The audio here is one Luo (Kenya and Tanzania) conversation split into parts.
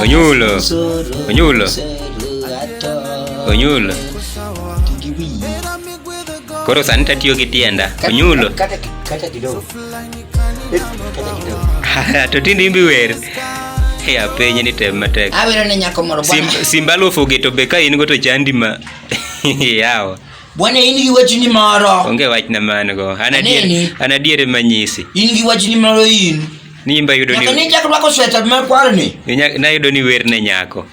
Onyulo. Onyulo. Onyulo. Koro sani tatiyo gi tienda. Onyulo. Kata kata kidogo. To tindi imbi wer. Hey, apenye ni tem matek. Awero ne nyako moro bwana. Simba lufu geto be ka in go to chandi ma. Yawa. Bwana in gi wachni moro. Onge wach na man go. An adier an adier manyisi. In gi wachni moro in. Ni imba yudo ni. Nyaka ni chakwa ko sweta ma kwar ni. Na yudo ni wer ne nyako.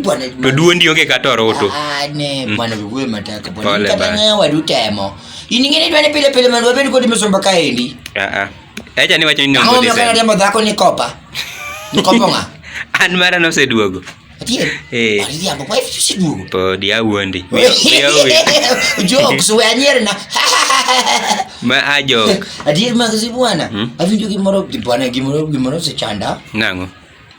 Bwana. To duondi onge kata oroto. Ah ne mm. bwana wewe mataka bwana. Kata ne wadu temo. In ngene dwani pile pile mandu wabedi kodi msomba kaendi. Ah ah. Acha ni wacho ni ndio. Kama unataka ndio dhako ni kopa. Ni kopa nga. An mara no seduogo. Atieno. Eh. Ari jambo kwa hivi si dugo. Po dia wuondi. Jo kusuwe anyere na. Ma ajo. Adier mag si bwana. Hmm? Avinjo gimoro bwana gimoro gimoro se chanda. Nango.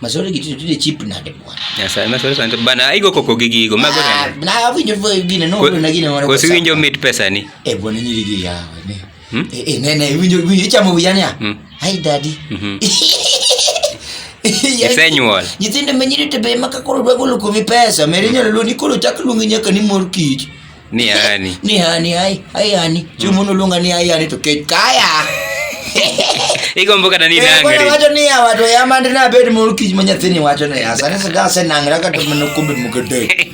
Masore gitu tude chip na de bwana. Ya sa masore sante bana aigo koko gigi go mago na. Na avinjo gine no na gine moro. Ko si winjo mit pesa ni. Eh bwana nyiri gi ya. Hmm? Eh, eh, ne, ne, winjo, winjo, ichamo wiya niya? Hmm. Hi, daddy. Mhm. Yaani, Isenyuol. Nyithindo ma nyiri to be ema ka koro dwa golo kuomi pesa, meri nyalo luongi koro chak luongi nyaka ni mor kich. Ni ani. Ni hani, hai, hai hani. Chiemo noluonga ni hai hani to kech kaya. Igombo kata ni Eh, koro nangri. wacho ni ya wato ya mandi na bed mor kich ma nyathini wacho ne ya. Sani sida asenang'ra kata mana kombe moko adek.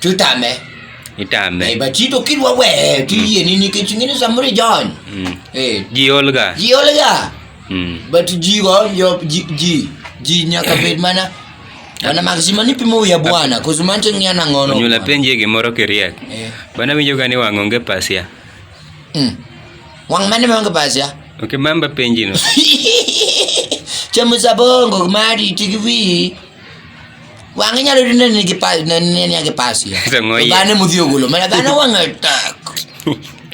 Tutame. Itame. Eh, but ito kilwa we, tiye nini kichingine sa muri John. Mm. Eh, Ji Olga. ji olga. Mm. But ji wa yo ji ji ji nyaka bed mana. Wana maxima ni pimo ya bwana, kuzumanche ngiana ngono. Onyula penje gimoro kiriek. Eh. Bana winjo gani wang' onge pasia. Mm. Wang mane manga pasya? Ok mamba penji no. Chamu sabongo mari tikivi. Wang'e nyalo yudo ni nigi pa ne ne nigi pasio. Zang'o iye. Dhano mudhi ogolo mana dhano wang'e tak.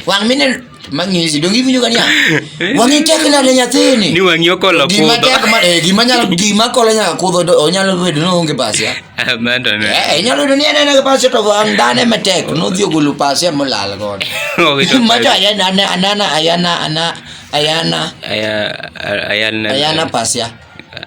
Wang' mine mang'isi donge iwinjo gani Wang'e tek nade nyathini. Ni wang'i okolo Gima kudho. tek ma eh, gima nyalo gima kolo nyaka kudho do- onyalo bedo ni onge pasio. Amanda ne. Eh, inyalo yudo ni en ena gi pasio to wang' dhano ema tek nodhi ogolo pasio molal godo. Owito Macho pasi. ayana ana- anana ayana ana ayana Aya ayana. ayana pasio.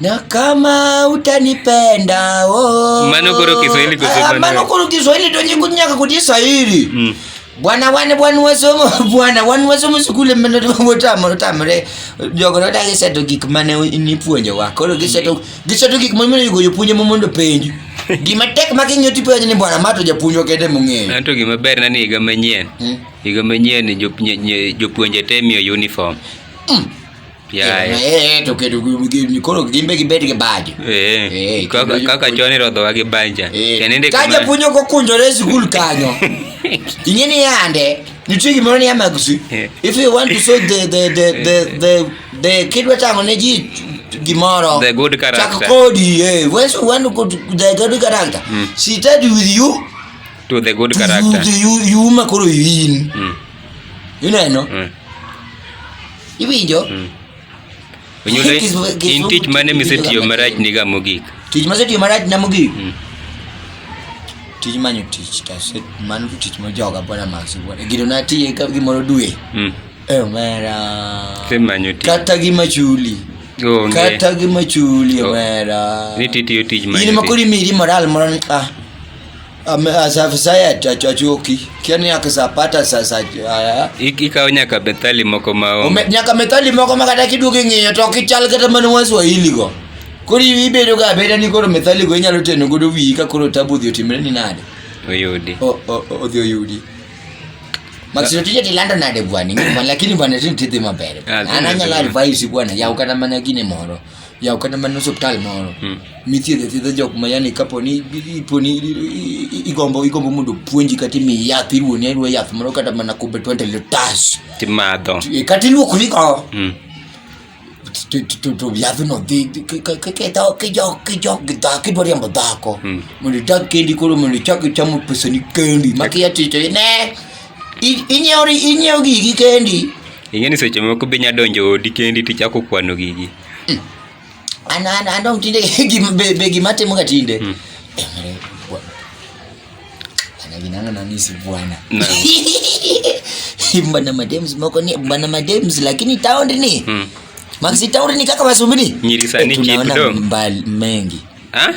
Na kama utanipenda oh. Manokoro Kiswahili kwa sababu. Ah, manokoro Kiswahili ndio nyingu nyaka kudisa hili. Mm. Bwana wane bwana wasomo bwana wane wasomo sukule meno wotamo tamre jogo no dagi seto gik mane ni puonje wa koro giseto giseto gik mane yugo jopunje mondo penji gima tek ma king'iyo tipo ni bwana mato japuonjwa kende mong'eyo anto gima ber na ni higa manyien hmm? higa manyien jopuonje te miyo uniform hmm. Eh, eh, koro gimbe gibed gi bajo eh, kaka chon irodhowa gi banja ka japuonj ok okunjore e sikul kanyo ing'e ni yande nitie gimoro ni amagusi if you want to show the, the, the, the, the, the kidwa tang'o ne ji gimoro the good character chak kodi eh when you want to go to the good character mm. she started with you to the good to character you, you, you makoro in mm. you know, you know? Mm. Iwinjo? Mm. Onyulo in tich mane misetiyo marach niga mogik? Tich masetiyo marach na mogik? Mm. Tij manyo tich to aset mano tich ma joga bwana Max bwana. Gido na tiye ka gimoro dwe. Mm. Eh mera. Tich manyo tich. Kata gi machuli. Onge. Kata gi machuli oh. mera. Ni titiyo tich manyo tich. Ni makuri miri moral moran ah. nyaka methali moko maonge nyaka methali moko ma kata kiduogo ing'iyo to ok ichal kata mana waswahili go koro ibedo ga abeda ni koro methali go inyalo teno godo wiyi ka koro tabu odhi otimre ni nade oyudi odhi oyudi Maksud tije tilando nade bwana, lakini bwana tini tidhi maber. An anyalo advise bwana, yaw kata mana gine moro. yaw kata mana osiptal moro hmm. mithiedhe thiedha jok ma yani kaponi iponi igombo igombo mondo puonji kata imi yath iruoni aruo yath moro kata mana kumbe 20 litas timadho e, kata iluokori go hmm. to yathno dhi kidwaro riambo dhako hmm. mondo idag kendi koro mondo ichak ichamo pesani kendi makiya tito ne I- Inyiewo ri- inyiewo gigi kendi. ing'e ni seche moko be nya donjo odi kendi tichako kwano gigi An an an dong tinde gim- be be gima timo ga tinde. Mm. Eh, mare, bwa- Ana ginanga na nisi bwana. Na. Bana madems moko ni bana madems lakini town ni. mm. Maxi town ni kaka wasumbini. Nyiri sani Eh, tunaona chip do. mbali mengi. Ha?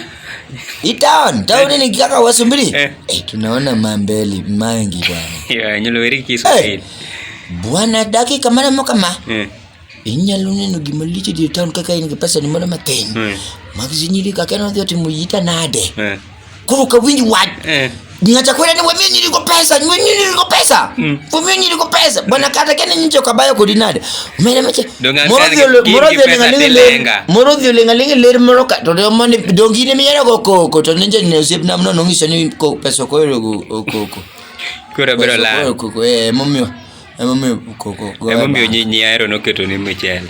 Ni town, town ni kaka wasu mbili. Eh. eh, tunaona mambeli mangi bwana. Ya, nyolo weri kisu. Eh. Bwana daki kamara mo kama. Eh. Inyalo neno gima lich di town kaka in gi pesa ni moro matin. Eh. Magzinyiri kaka no dhi otimo yita nade. Eh. Koro ka winj wach. Eh. Nyacha kwenda ni wamio nyiri ko pesa, ni wamio nyiri ko pesa. Hmm. Wamio nyiri ko pesa. Bwana kata kene nyincho kabayo ko dinade. Mene meche. Morodhio le, morodhio le ngalingi le. Morodhio le ngalingi le moroka. To de mone dongi ne miyara ko ko ko to ninja ne usip namno nongi sani ko pesa ko ero ko ko ko. Kura bro la. Ko ko eh momio. Emomiyo koko. Emomiyo nyinyi ahero noketo ni michele.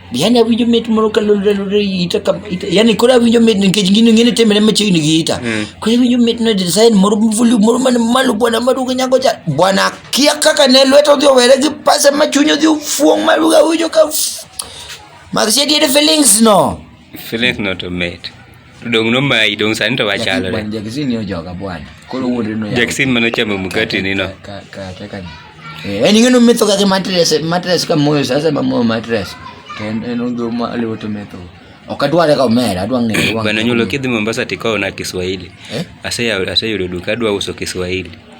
yani awinjo mit moro ka lolore ita ka ita yani koro awinjo mit nikech gino ngene temre machiegni gi ita mm. koro awinjo mit na design moro mvulu moro man malo bwana maduga nyago cha bwana kia kaka ne lweto dhi owere gi pasa ma chunyo dhi fuong maduga awinjo ka Maxie did feelings no feelings not to mate Dong nomayi dong sani to wachalre. Bwana Jackson ni ojoga bwana. Koro wuonre no. Jackson mano chamo mkate ni no. Ka ka ka ka. Eh, en ing'e no metho kaka mattress, mattress ka moyo sasa ma moyo mattress. To en en odho ma aliwo to metho. Ok adware ka omera, adwa ng'eyo. wang' Bana nyulo kidhi Mombasa tikawo na Kiswahili. Eh? Aseyawo aseyudo duka adwa uso Kiswahili.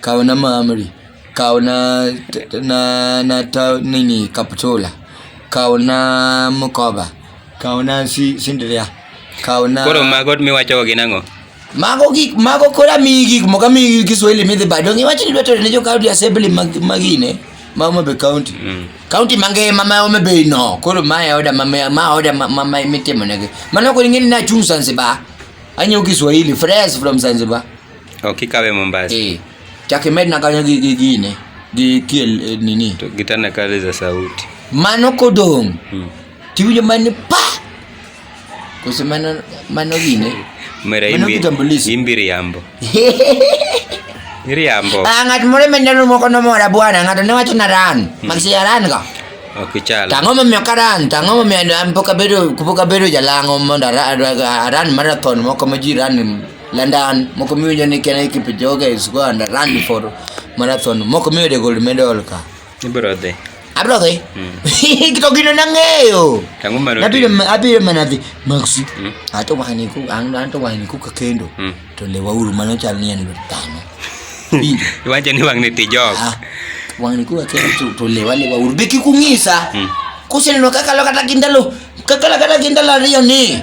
kawo na mamri kawo na na na ta nini kaptola kawo na mkoba kawo na si sindria kawo na koro mago miwacho gi nango mago gik mago kora mi gik moka mi Kiswahili midhi bado ngi wacho ni dwato ne jo county assembly magine ma Homa Bay county mm. county mangima ma Homa Bay no koro ma ya oda ma ma oda ma ma mitimo nege mano ko ngini na chung Zanzibar anyo Kiswahili fresh from Zanzibar Ok ikawe Mombasa. Eh. Chak imedna kanyo gi gi gine gi kiel eh, nini. To gitana kale za sauti. Mano kodong'. Hmm. Tiwinjo mani pa. Kose mano mano gine. Mera Mano imbi. kitambulisho. Imbi riambo. Riambo. Ah, ng'at moro meneno moko nomora bwana, ng'ato ne wacho na ran. Magsi ya ran ka. Ok ichal. Tang'o momiyo ka ran, tang'o momiyo an pok abedo pok abedo jalang'o mondo ara- ara- aran marathon moko ma ji ran London moko miwinjo ni Kenya Kipchoge is go and run for marathon moko miyude gold medal ka. Ibro dhi. Abro dhi. Hmm. Kito gino nang'eyo. Tangu maro. Abiro abiro mana dhi Maxi. Hmm. Ato wahani ku ang anto wahani ku ka kendo. Hmm. To le wauru mano chal ni en tano. Iwacho ni wang'ni tijok. Ah, wang'ni ku ka kendo to le wale wauru be kikung'isa. Kuseneno kakalo kata kindalo kakalo kata kindalo ariyo ni.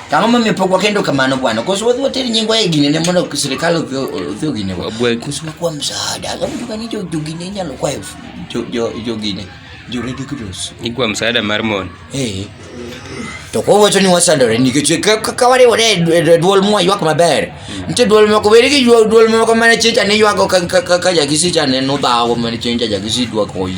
Ang'o momiyo pok wakendo kamano bwana? Koso wadhi water nyingwa e gine ne mondo sirkal odhi odhi ogine wa. Koso wakwa msaada. Kama mtu kani jo jo gine nyalo kwa jo jo jo gine. Jo Red Cross. Ni kwa msaada mar mon. Eh. To ko wacho ni wasandore nikech kaka wariwore e dwol mwa ywak maber. Nitie dwol moko weri gi dwol moko mane chenja ne ywago ka ka ka jakisi chane no dhawo mane chenja jakisi dwa koyi.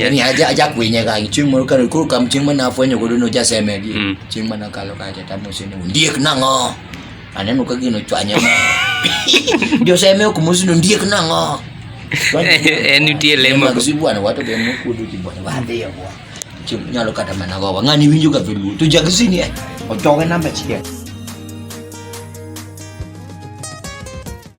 yani aja aja kwenye ka ching mo ka ko kam ching mana fwenyo ko no ja seme di mm. ching mana ka lo ka ja tamo sene ndiek nango aneno ka gino chwanya ma jo seme ko mo sino ndiek nango en nitie lemo ko si bwana wato be mo kudu ti bwana wa de ya bwa ching nyalo kata mana go ngani winjo ka velu to ja gisini e o toga namba chiel